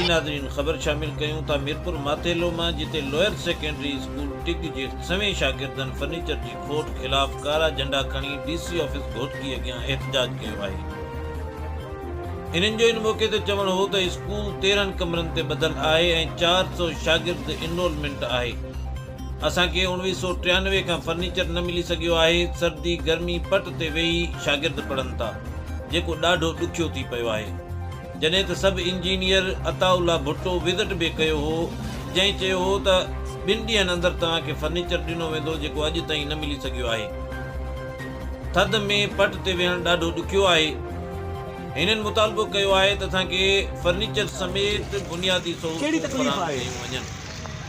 جي ناظرين خبر شامل ڪيون ٿا ميرپور ماتيلو مان جتي لوئر سيڪنڊري اسڪول ٽگ جي سوين شاگردن فرنيچر جي کوٽ خلاف ڪارا جهنڊا کڻي ڊي سي آفيس گهوٽڪي اڳيان احتجاج ڪيو آهي انهن جو ان موقعي تي چوڻ هو ته اسڪول تيرهن ڪمرن تي ٻڌل آهي ۽ چار سؤ شاگرد انرولمينٽ آهي اسان کي اوڻويهه سؤ ٽيانوي کان فرنيچر نه ملي سگهيو آهي، سردي گرمي پٽ تي ويهي شاگرد پڙهن ٿا، جيڪو ڏاڍو ڏکيو ٿي پيو آهي. جڏهن ته sub engineer Ata Ullah Bhutto visit به ڪيو هو، جنهن چيو هو ته ٻن ڏينهن اندر توهان کي فرنيچر ڏنو ويندو جيڪو اڄ تائين نه ملي سگهيو آهي. ٿڌ ۾ پٽ تي ويهڻ ڏاڍو ڏکيو آهي. هنن مطالبو ڪيو آهي ته اسان کي فرنيچر سميت بنيادي سهولتون فراهم ڪيون وڃن.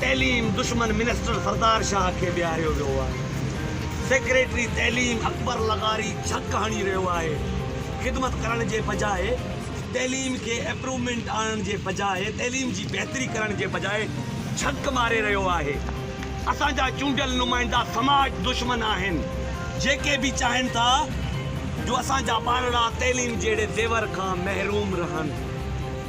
تعليم دشمن منسٽر سردار شاهه کي بيهاريو ويو آهي، سيڪريٽري تعليم اڪبر لغاري ڇڪ هڻي رهيو آهي، خدمت ڪرڻ جي بجاء تعليم کي اپرومينٽ آڻڻ جي بجاء تعليم جي بهتري ڪرڻ جي بجاء ڇڪ ماري رهيو آهي، اسان جا چونڊيل نمائندا سماج دشمن آهن جيڪي به چاهين ٿا جو اسان جا ٻارڙا تعليم جهڙي زيور کان محروم رهن.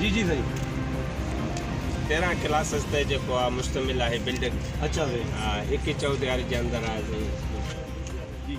جي جي سائين تيرهن ڪلاسز تي جيڪو آ مشتمل آهي بلڊنگ اچا سائين ها هڪ ئي چوڌياري جي اندر آهي سائين جي